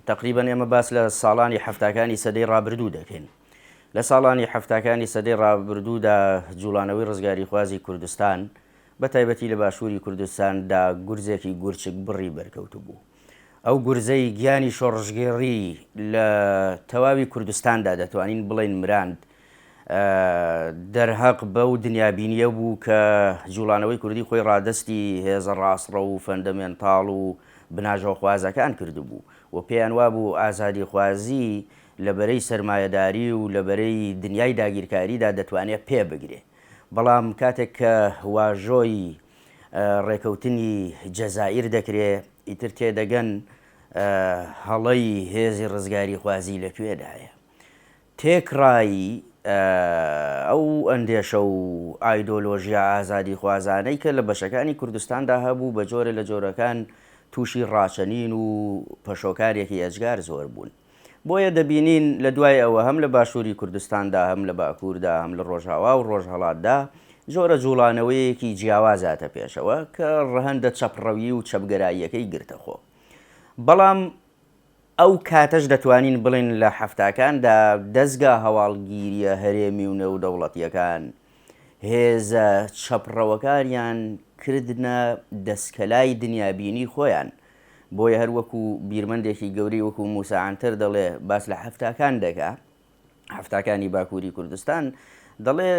تەقریبەن ئێمە باس لە ساڵانی حەفتاکانی سەدەی ڕابردوو دەکەین. لە ساڵانی حەفتاکانی سەدەی ڕابردوودا جووڵانەوەی ڕزگاریخوازی کوردستان، بە تایبەتی لە باشووری کوردستان دا گورزێکی گورچک بڕی بەرکەوتبوو. ئەو گورزەی گیانی شۆڕشگێڕی لە تەواوی کوردستاندا دەتوانین بڵێین مراند. دەرهەق بەو دنیابینییە بوو کە جووڵانەوەی کوردی خۆی ڕادەستی هێزە ڕاستڕەو و فەندەمێنتاڵ و بناژۆخوازەکان کردبوو و پێیان وابوو ئازادیخوازی لە بەرەی سەرمایەداری و لە بەرەی دنیای داگیرکاریدا دەتوانێ پێ بگرێ. بەڵام کاتێک کە واژۆی ڕێکەوتنی جەزائیر دەکرێ، ئیتر تێدەگەن هەڵەی هێزی ڕزگاریخوازی لە کوێدایە. تێکڕایی ئەو ئەندێشە و ئایدۆلۆژیا ئازادیخوازانەی کە لە بەشەکانی کوردستاندا هەبوو بە جۆرێ لە جۆرەکان تووشی ڕاچەنین و پەشۆکارێکی ئێجگار زۆر بوون. بۆیە دەبینین لە دوای ئەوە هەم لە باشووری کوردستاندا، هەم لە باکووردا، هەم لە ڕۆژاوا و ڕۆژهەڵاتدا جۆرە جووڵانەوەیەکی جیاواز هاتە پێشەوە کە ڕەهەندە چەپڕەوی و چەپگەراییەکەی گرتە خۆ. بەڵام. ئەو کاتەش دەتوانین بڵێین لە حەفتاکاندا دەزگا هەواڵگیرییە هەرێمی و نێودەوڵەتییەکان هێزە چەپڕەوەکانیان کردنە دەسکەلای دنیابینی خۆیان، بۆیە هەر وەکو بیرمەندێکی گەورەی وەکو موسا عەنتەر دەڵێ باس لە حەفتاکان دەکا، حەفتاکانی باکووری کوردستان، دەڵێ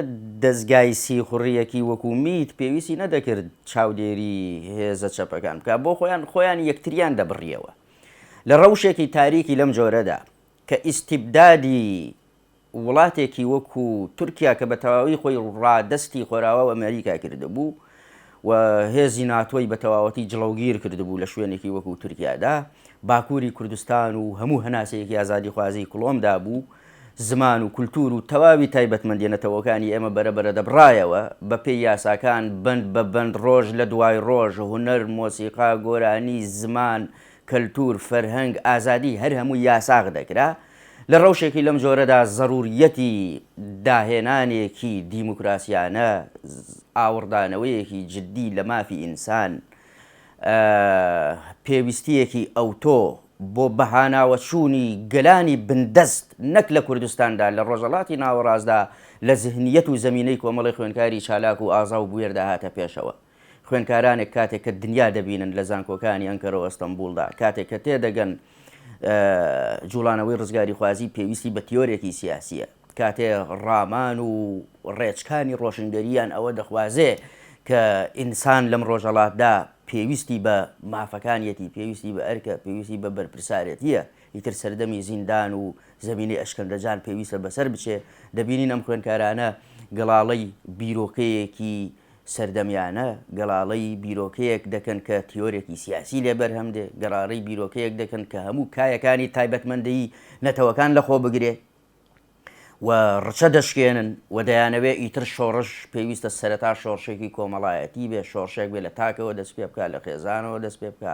دەزگای سیخوڕییەکی وەکوو میت پێویستی نەدەکرد چاودێری هێزە چەپەکان بکات، بۆ خۆیان خۆیان یەکتریان دەبڕییەوە. لە ڕەوشێکی تاریکی لەم جۆرەدا کە ئیستیبدادی وڵاتێکی وەکوو تورکیا کە بە تەواوی خۆی ڕادەستی خۆراوا و ئەمەریکا کردبوو، و هێزی ناتۆی بە تەواوەتی جڵەوگیر کردبوو لە شوێنێکی وەکوو تورکیادا باکووری کوردستان و هەموو هەناسەیەکی ئازادیخوازیی کوڵۆم دابوو، زمان و کولتوور و تەواوی تایبەتمەندییە نەتەوەکانی ئێمە بەرە بەرە دەبڕایەوە بە پێی یاساکان بەند بە بەند ڕۆژ لە دوای ڕۆژ هونەر، مۆسیقا، گۆرانی، زمان، کەلتوور، فەرهەنگ، ئازادی هەر هەمووی یاساغ دەکرا. لە ڕەوشێکی لەم جۆرەدا زەرووریەتی داهێنانێکی دیموکراسیانە، ئاوڕدانەوەیەکی جدی لە مافی ئینسان، پێویستییەکی ئەوتۆ بۆ بەهاناوەچوونی گەلانی بندەست نەک لە کوردستاندا، لە ڕۆژهەڵاتی ناوەڕاستدا لە زهنیەت و زەمینەی کۆمەڵی خوێنکاری چالاک و ئازا و بوێردا هاتە پێشەوە. خوێندکارانێک کاتێک کە دنیا دەبینن لە زانکۆکانی ئەنکەرەوە ئەستەمبوڵدا کاتێک کە تێدەگەن جوڵانەوەی ڕزگاری خوازی پێویستی بە تیۆرێکی سیاسیە کاتێ ڕامان و ڕێچکانی ڕۆشنگەریان ئەوە دەخوازێ کە ئینسان لەم ڕۆژەڵاتدا پێویستی بە مافەکانیەتی پێویستی بە ئەرکە پێویستی بە بەرپرسارەتیە ئیتر سەردەمی زیندان و زمینی ئەشکەندەجان پێویستە بەسەر بچێ دەبینین ئەم خوێنکارانە گەڵاڵەی بیرۆکەیەکی سەردەمیانە گەڵاڵەی بیرۆکەیەک دەکەن کە تیۆرێکی سیاسی لێ بەرهەم دێ، گەڕاڵەی بیرۆکەیەک دەکەن کە هەموو کایەکانی تایبەتمەندیی نەتەوەکان لە خۆ بگرێ و ڕچە دەشکێنن و دەیانەوێ ئیتر شۆڕش پێویستە سەرەتا شۆڕشێکی کۆمەڵایەتی بێ، شۆڕشێک بێ لە تاکەوە دەست پێ بکا، لە خێزانەوە دەست پێ بکا،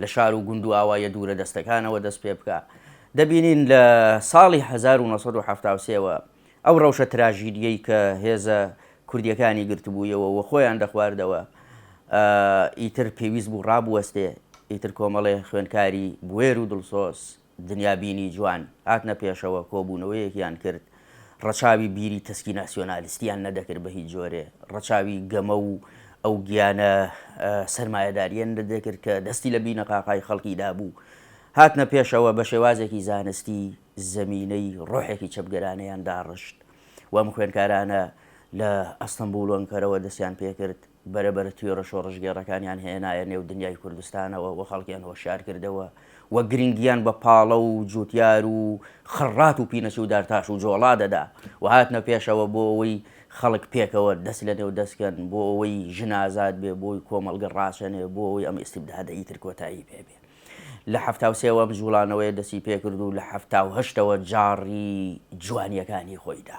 لە شار و گوند و ئاواییە دوورە دەستەکانەوە دەست پێ بکا. دەبینین لە ساڵی هەزار و نۆ سەد و حەفتا و سێ وە ئەو ڕەوشە تراژیدییەی کە هێزە کوردییەکانی گرتبوویەوە و خۆیان دەخواردەوە، ئیتر پێویست بوو ڕابوەستێ، ئیتر کۆمەڵێ خوێندکاری بوێر و دڵسۆز، دنیابینی جوان هاتنە پێشەوە، کۆبوونەوەیەکیان کرد، ڕەچاوی بیری تەسکی ناسیۆنالیستییان نەدەکرد بە هیچ جۆرێ، ڕەچاوی گەمە و ئەو گیانە سەرمایەدارییە نەدەکرد کە دەستی لە بینەقاقای خەڵکی دابوو، هاتنە پێشەوە بە شێوازێکی زانستی، زەمینەی ڕۆحێکی چەپگەرانەیان داڕشت و ئەم خوێندکارانە لە ئەستەمبوڵ و ئەنکەرەوە دەستیان پێکرد، بەرە بەرە توێڕە شۆڕشگێڕەکانیان هێنایە نێو دنیای کوردستانەوە و خەڵکیان هۆشیار کردەوە و گرنگییان بە پاڵە و جووتیار و خەڕات و پینەچە و دارتاش و جۆڵا دەدا و هاتنە پێشەوە بۆ ئەوەی خەڵک پێکەوە دەست لە نێو دەست کەن، بۆ ئەوەی ژن ئازاد بێ، بۆی کۆمەڵگە ڕاچەنێ، بۆ ئەوەی ئەم ئیستیبدادە ئیتر کۆتایی پێ بێ. لە حەفتا و سێوە ئەم جووڵانەوەیە دەستی پێ کرد و لە حەفتا و هەشتەوە جاڕی جوانییەکانی خۆی دا.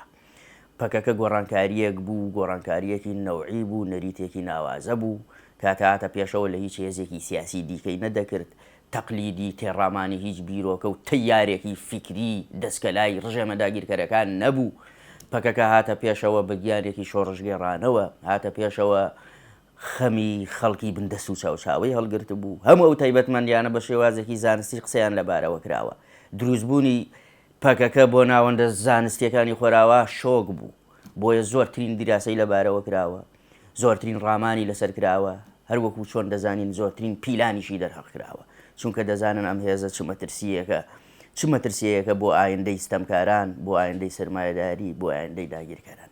پەکەکە گۆڕانکارییەک بوو، گۆڕانکارییەکی نەوعی بوو، نەریتێکی ناوازە بوو، کە تا هاتە پێشەوە لە هیچ هێزێکی سیاسی دیکەی نەدەکرد، تەقلیدی، تێڕامانی هیچ بیرۆکە و تەیارێکی فیکری دەسکەلای ڕژێمە داگیرکەرەکان نەبوو. پەکەکە هاتە پێشەوە بە گیانێکی شۆڕشگێڕانەوە، هاتە پێشەوە، خەمی خەڵکی بن دەست و چاو چاوەی هەڵگرتبوو، هەموو ئەو تایبەتمەندیانە بە شێوازێکی زانستی قسەیان لە بارەوە کراوە. دروستبوونی پەکەکە بۆ ناوەندە زانستییەکانی خۆراوا شۆک بوو، بۆیە زۆرترین دیراسەی لە بارەوە کراوە، زۆرترین ڕامانی لەسەر کراوە، هەر وەکوو چۆن دەزانین زۆرترین پیلانیشی دەرهەق کراوە، چونکە دەزانن ئەم هێزە چ مەترسییەکە، چ مەترسییەیەکە بۆ ئایندەی ستەمکاران، بۆ ئایندەی سەرمایەداری، بۆ ئایندەی داگیرکەران.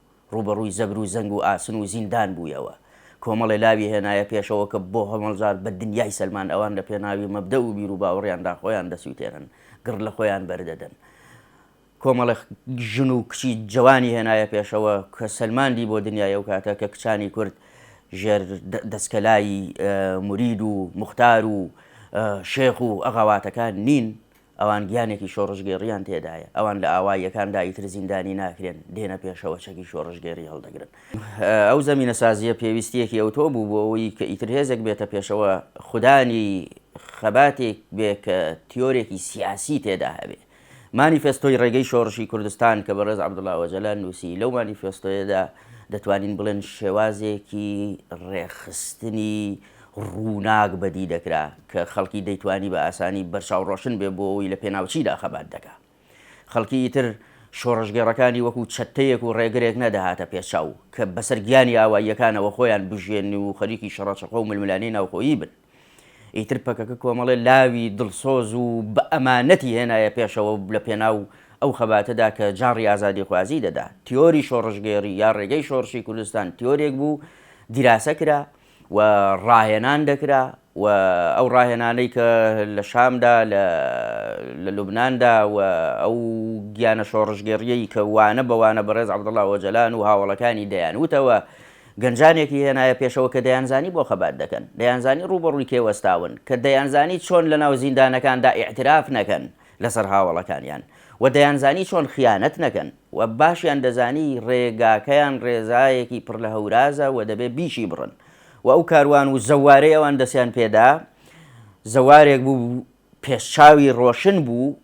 ڕووبەڕووی زەبر و زەنگ و ئاسن و زیندان بوویەوە. کۆمەڵێ لاوی هێنایە پێشەوە کە بۆ هەڵمەڵجار بە دنیای سەلماند ئەوان لە پێناوی مەبدەئ و بیروباوەڕیاندا خۆیان دەسووتێنن، گڕ لە خۆیان بەردەدەن. کۆمەڵێ ژن و کچی جەوانی هێنایە پێشەوە کە سەلماندی بۆ دنیای ئەو کاتە کە کچانی کورد ژێر دەسکەلای مورید و موختار و شێخ و ئەغاواتەکان نین، ئەوان گیانێکی شۆڕشگێڕیان تێدایە، ئەوان لە ئاواییەکاندا ئیتر زیندانی ناکرێن، دێنە پێشەوە چەکی شۆڕشگێڕی هەڵدەگرن. ئەو زەمینەسازییە پێویستییەکی ئەوتۆ بوو بۆ ئەوەی کە ئیتر هێزێک بێتە پێشەوە، خودانی خەباتێک بێ کە تیۆرێکی سیاسی تێدا هەبێ. مانیفێستۆی ڕێگەی شۆڕشی کوردستان کە بەڕێز عەبدوڵا ئۆجەلان نووسی، لەو مانیفێستۆیەدا دەتوانین بڵێن شێوازێکی ڕێکخستنی، ڕووناک بەدی دەکرا کە خەڵکی دەیتوانی بە ئاسانی بەرچاو ڕۆشن بێ بۆ ئەوەی لە پێناو چیدا خەبات دەکا. خەڵکی ئیتر شۆڕشگێڕەکانی وەکوو چەتەیەک و ڕێگرێک نەدەهاتە پێچاو کە بەسەر گیانی ئاواییەکانەوە خۆیان بژیێنن و خەریکی شەڕەچەقۆ و ململانێی ناوخۆیی بن. ئیتر پەکەکە کۆمەڵێ لاوی دڵسۆز و بە ئەمانەتی هێنایە پێشەوە لە پێناو ئەو خەباتەدا کە جاڕی ئازادیخوازی دەدا. تیۆری شۆڕشگێڕی یا ڕێگەی شۆڕشی کوردستان تیۆرێک بوو دیراسە کرا و ڕاهێنان دەکرا و ئەو ڕاهێنانەی کە لە شامدا لە لە لوبناندا و ئەو گیانە شۆڕشگێڕیەی کە وانە بە وانە بەڕێز عەبدوڵا ئۆجەلان و هاوەڵەکانی دەیان وتەوە گەنجانێکی هێنایە پێشەوە کە دەیانزانی بۆ خەبات دەکەن دەیانزانی ڕووبەڕووی کێ وەستاون کە دەیانزانی چۆن لە ناو زیندانەکاندا ئیعتراف نەکەن لەسەر هاوەڵەکانیان و دەیانزانی چۆن خیانەت نەکەن و باشیان دەزانی ڕێگاکەیان ڕێزایەکی پڕ لە هەورازە و دەبێ بیشی بڕن و ئەو کاروان و زەوارەی ئەوان دەسیان پێدا زەوارێک بوو پێش چاوی ڕۆشن بوو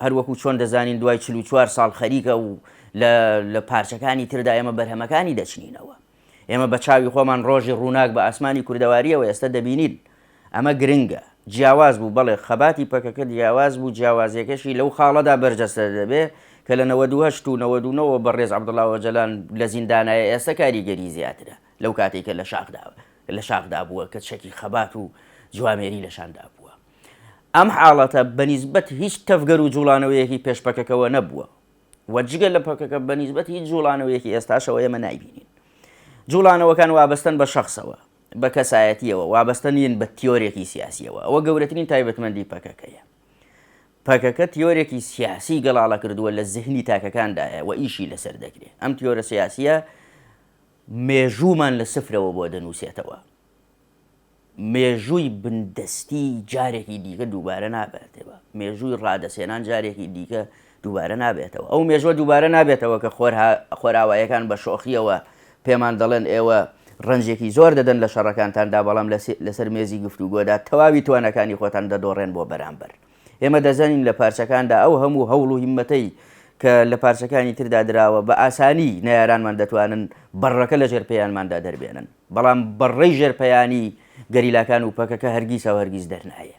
هەر وەکوو چۆن دەزانین دوای چل و چوار ساڵ خەریکە و لە لە پارچەکانی تردا ئێمە بەرهەمەکانی دەچنینەوە. ئێمە بە چاوی خۆمان ڕۆژی ڕووناک بە ئاسمانی کوردەوارییەوە ئێستا دەبینین. ئەمە گرنگە. جیاواز بوو، بەڵێ، خەباتی پەکەکە جیاواز بوو، جیاوازییەکەشی لەو خاڵەدا بەرجەستە دەبێ کە لە نەوەد و هەشت و نەوەد و نۆ وە بەڕێز عەبدوڵا ئۆجەلان لە زیندانایە ئێستا کاریگەریی زیاترە لەو کاتەی کە لە شاخدا لە شاخدا بووە کە چەکی خەبات و جوامێری لە شاندا بووە. ئەم حاڵەتە بە نیسبەت هیچ تەڤگەر و جووڵانەوەیەکی پێش پەکەکەوە نەبووە. و جگە لە پەکەکە بە نیسبەت هیچ جووڵانەوەیەکی ئێستاشەوە ئێمە نایبینین. جووڵانەوەکان وابەستەن بە شەخسەوە، بە کەسایەتییەوە، وابەستە نیین بە تیۆرێکی سیاسییەوە. ئەوە گەورەترین تایبەتمەندی پەکەکەیە. پەکەکە تیۆرێکی سیاسیی گەڵاڵەکردووە لە زهنی تاکەکاندایە و ئیشی لەسەر دەکرێ. ئەم تیۆرە سیاسییە مێژوومان لە سفرەوە بۆ دەنووسێتەوە. مێژووی بندەستی جارێکی دیکە دووبارە نابێتەوە، مێژووی ڕادەسێنان جارێکی دیکە دووبارە نابێتەوە، ئەو مێژووە دووبارە نابێتەوە کە خۆراوایەکان بە شۆخییەوە پێمان دەڵێن ئێوە ڕەنجێکی زۆر دەدەن لە شەڕەکانتاندا بەڵام لەسەر مێزی گفتوگۆدا تەواوی تواناکانی خۆتان دەدۆڕێن بۆ بەرامبەر. ئێمە دەزانین لە پارچەکاندا ئەو هەموو هەوڵ و هیممەتەی کە لە پارچەکانی تردا دراوە بە ئاسانی نەیارانمان دەتوانن بەڕەکە لە ژێر پێیانماندا دەربێنن. بەڵام بەڕەی ژێرپەیانی گەریلاکان و پەکەکە هەرگیزا و هەرگیز دەرنایێ.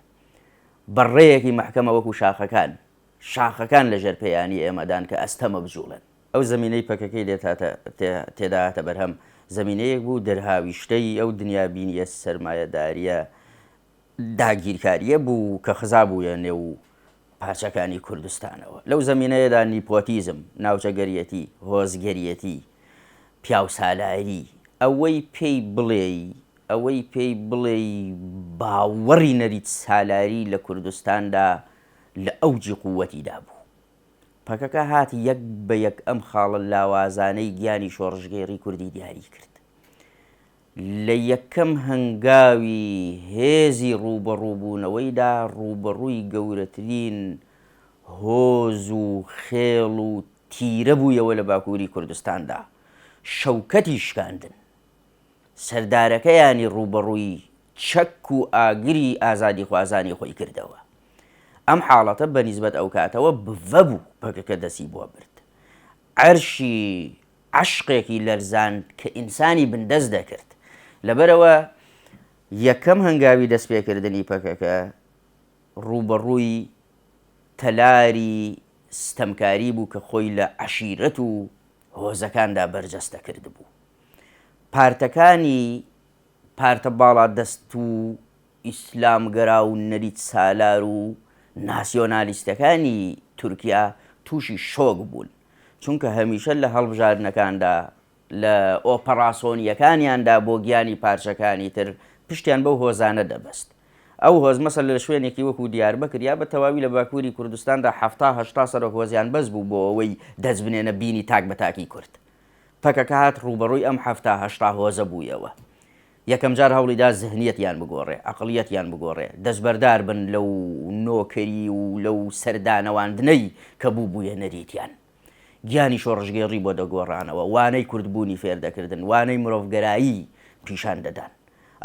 بەڕەیەکی مەحکەمە وەکوو شاخەکان، شاخەکان لە ژێر پەیانی ئێمەدان کە ئەستەمە بجووڵێن. ئەو زەمینەی پەکەکەی لێ تاتە تێدا هاتە بەرهەم، زەمینەیەک بوو دەرهاویشتەی ئەو دنیابینییە سەرمایەدارییە داگیرکارییە بوو کە خزابوویە نێو پارچەکانی کوردستانەوە. لەو زەمینەیەدا نیپۆتیزم، ناوچەگەریەتی، هۆزگەریەتی، پیاوسالاری، ئەوەی پێی بڵێی ئەوەی پێی بڵێی باوەڕی نەریتسالاری لە کوردستاندا لە ئەوجی قووەتیدا بوو. پەکەکە هات یەک بە یەک ئەم خاڵە لاوازانەی گیانی شۆڕشگێڕی کوردی دیاری کرد. لە یەکەم هەنگاوی هێزی ڕووبەڕووبوونەوەیدا ڕووبەڕووی گەورەترین هۆز و خێڵ و تیرە بوویەوە لە باکووری کوردستاندا، شەوکەتی شکاندن سەردارەکەیانی ڕووبەڕووی چەک و ئاگری ئازادیخوازانی خۆی کردەوە. ئەم حاڵەتە بەنیسبەت ئەوکاتەوە بڤە بوو پەکەکە دەستی بۆ برد. عەرشی عەشقێکی لەرزان کە ئینسانی بندەست دەکرد. لەبەرئەوە یەکەم هەنگاوی دەستپێکردنی پەکەکە ڕووبەڕووی تەلاری ستەمکاری بوو کە خۆی لە عەشیرەت و هۆزەکاندا بەرجەستە کردبوو. پارتەکانی پارتە باڵادەست و ئیسلامگەرا و نەریتسالار و ناسیۆنالیستەکانی تورکیا تووشی شۆک بوون. چونکە هەمیشە لە هەڵبژاردنەکاندا لە ئۆپەڕاسۆنییەکانیاندا بۆ گیانی پارچەکانی تر پشتیان بەو هۆزانە دەبەست ئەو هۆز مەسەلە لە شوێنێکی وەکو دیاربەکر یا بە تەواوی لە باکووری کوردستاندا حەفتا هەشتا سەرۆک هۆزیان بەس بوو بۆ ئەوەی دەست بنێنە بینی تاک بە تاکی کورد پەکەکە هات ڕووبەڕووی ئەم حەفتا هەشتا هۆزە بوویەوە یەکەمجار هەوڵیدا زهنیەتیان بگۆڕێ، عەقڵیەتیان بگۆڕێ، دەستبەرداربن لەو نۆکەری و لەو سەردانەواندنەی کە بووبوویە نەریتیان. گیانی شۆڕشگێڕی بۆ دەگۆڕانەوە، وانەی کوردبوونی فێردەکردن، وانەی مرۆڤگەرایی پیشان دەدان.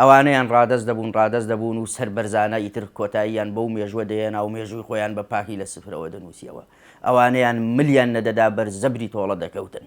ئەوانەیان ڕادەست دەبوون، ڕادەست دەبوون و سەربەرزانە ئیتر کۆتاییان بەو مێژووە دەهێنا و مێژووی خۆیان بە پاکی لە سفرەوە دەنووسیەوە. ئەوانەیان ملیان نەدەدا بەر زەبری تۆڵە دەکەوتن.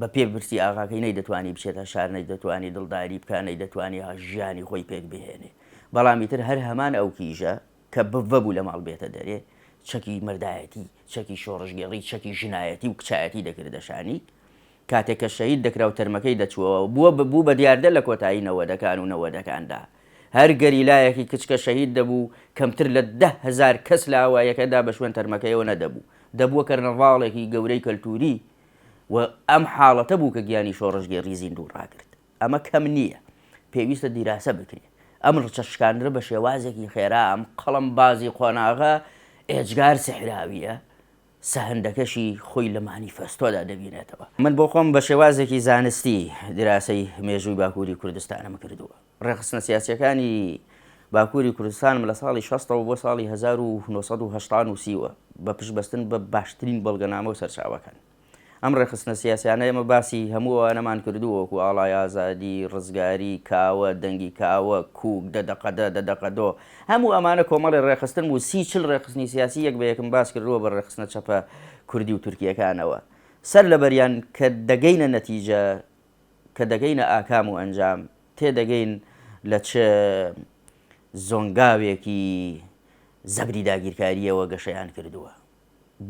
بە پێ برسی ئاغاکەی نەیدەتوانی بچێتە شار نەیدەتوانی دڵداری بکا نەیدەتوانی ها ژیانی خۆی پێک بهێنێ بەڵام ئیتر هەر هەمان ئەو کیژە کە بڤە بوو لە ماڵ بێتە دەرێ چەکی مەردایەتی چەکی شۆڕشگێڕی چەکی ژنایەتی و کچایەتی دەکردە شانی کاتێک کە شەهید دەکرا و تەرمەکەی دەچووەوە بووە ببوو بە دیاردە لە کۆتایی نەوەدەکان و نەوەدەکاندا هەر گەریلایەکی کچکە شەهید دەبوو کەمتر لە دە هەزار کەس لە ئاوایەکەدا بە شوێن تەرمەکەیەوە نەدەبوو دەبووە کەرنەڤاڵێکی گەورەی کەلتووری و ئەم حاڵەتە بوو کە گیانی شۆڕشگێڕی زیندوو ڕاگرت. ئەمە کەم نییە. پێویستە دیراسە بکرێ. ئەم ڕچە شکاندنە بە شێوازێکی خێرا، ئەم قەڵەمبازی قۆناغە ئێجگار سحراوییە، سەهەندەکەشی خۆی لە مانیفێستۆدا دەبینێتەوە. من بۆ خۆم بە شێوازێکی زانستی دیراسەی مێژووی باکووری کوردستانم کردووە. ڕێکخستنە سیاسییەکانی باکووری کوردستانم لە ساڵی شەستەوە بۆ ساڵی هەزار و نۆ سەد و هەشتا نووسیوە، بە پشتبەستن بە باشترین بەڵگەنامە و سەرچاوەکان. ئەم ڕێکخستنە سیاسییانە ئێمە باسی هەموو ئەوانەمان کردووە وەکوو، ئاڵای ئازادی، ڕزگاری، کاوە، دەنگی کاوە، کووک، دەدەقەدە، دەدەقەدۆ. هەموو ئەمانە کۆمەڵێ ڕێکخستن بوو، سی چل ڕێکخستنی سیاسی یەک بە یەکم باس کردووە بە ڕێکخستنە چەپە کوردی و تورکییەکانەوە سەر لەبەریان کە دەگەینە نەتیجە کە دەگەینە ئاکام و ئەنجام، تێدەگەین لە چ زۆنگاوێکی زەبری داگیرکارییەوە گەشەیان کردووە.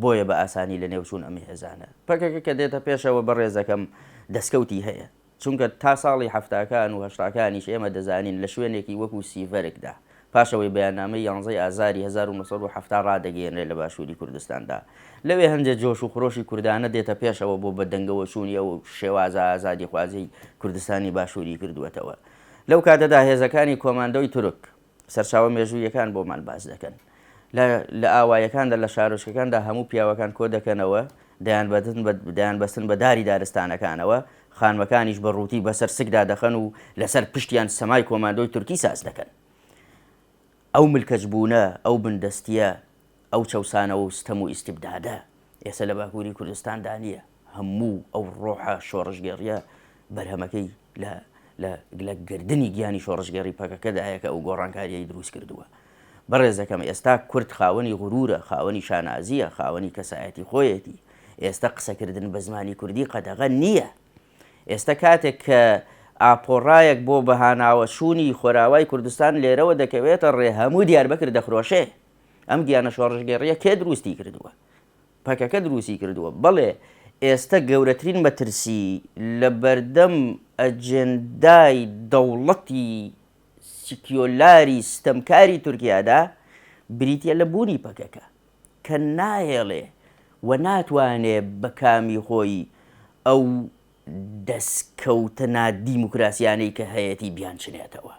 بۆیە بە ئاسانی لەنێوچوون ئەم هێزانە. پەکەکە کە دێتە پێشەوە بەڕێزەکەم دەسکەوتی هەیە. چونکە تا ساڵی حەفتاکان و هەشتاکانیش ئێمە دەزانین لە شوێنێکی وەکوو سیڤەرکدا پاش ئەوەی بەیاننامەی یانزەی ئازاری هەزار و نۆ سەد و حەفتا ڕادەگەیەنرێت لە باشووری کوردستاندا، لەوێ هەندێ جۆش و خرۆشی کوردانە دێتە پێشەوە بۆ بە دەنگەوە چوونی ئەو شێوازە ئازادیخوازیەی کوردستانی باشووری کردووەتەوە. لەو کاتەدا هێزەکانی کۆماندۆی تورک، سەرچاوە مێژووییەکان بۆمان باس دەکەن، لە لە ئاوایەکاندا لە شارۆچکەکاندا هەموو پیاوەکان کۆدەکەنەوە، دەیانبەتن دەیانبەستن بە داری دارستانەکانەوە، خانمەکانیش بە ڕووتی بەسەر سکدا دەخەن و لەسەر پشتیان سەمای کۆماندۆی تورکی ساز دەکەن. ئەو ملکەچبوونە، ئەو بندەستییە، ئەو چەوسانەوە و ستەم و ئیستیبدادە ئێستا لە باکووری کوردستاندا نییە. هەموو ئەو ڕۆحە شۆڕشگێڕییە بەرهەمەکەی لە گلەگردنی گیانی شۆڕشگێڕی پەکەکەدایە کە ئەو گۆڕانکارییەی دروست کردووە. بەڕێزەکەم ئێستا کورد خاوەنی غرورە خاوەنی شانازیە خاوەنی کەسایەتی خۆیەتی ئێستە قسەکردن بە زمانی کوردی قەدەغە نیە ئێستە کاتێک کە ئاپۆڕایەک بۆ بەهاناوە چوونی خۆراوای کوردستان لێرەوە دەکەوێتە ڕێ هەموو دیاربەکر دەخرۆشێ ئەم گیانە شۆڕشگێڕیە کێ دروستی کردووە پەکەکە دروستی کردووە بەڵێ ئێستە گەورەترین مەترسی لە بەردەم ئەجێندای دەوڵەتی سیکیۆلاری ستەمکاری تورکیادا بریتیە لە بوونی پەکەکە کە ناهێڵێ و ناتوانێ بە کامی خۆی ئەو دەسکەوتە نادیموکراسیانەی کە هەیەتی بیانچنێتەوە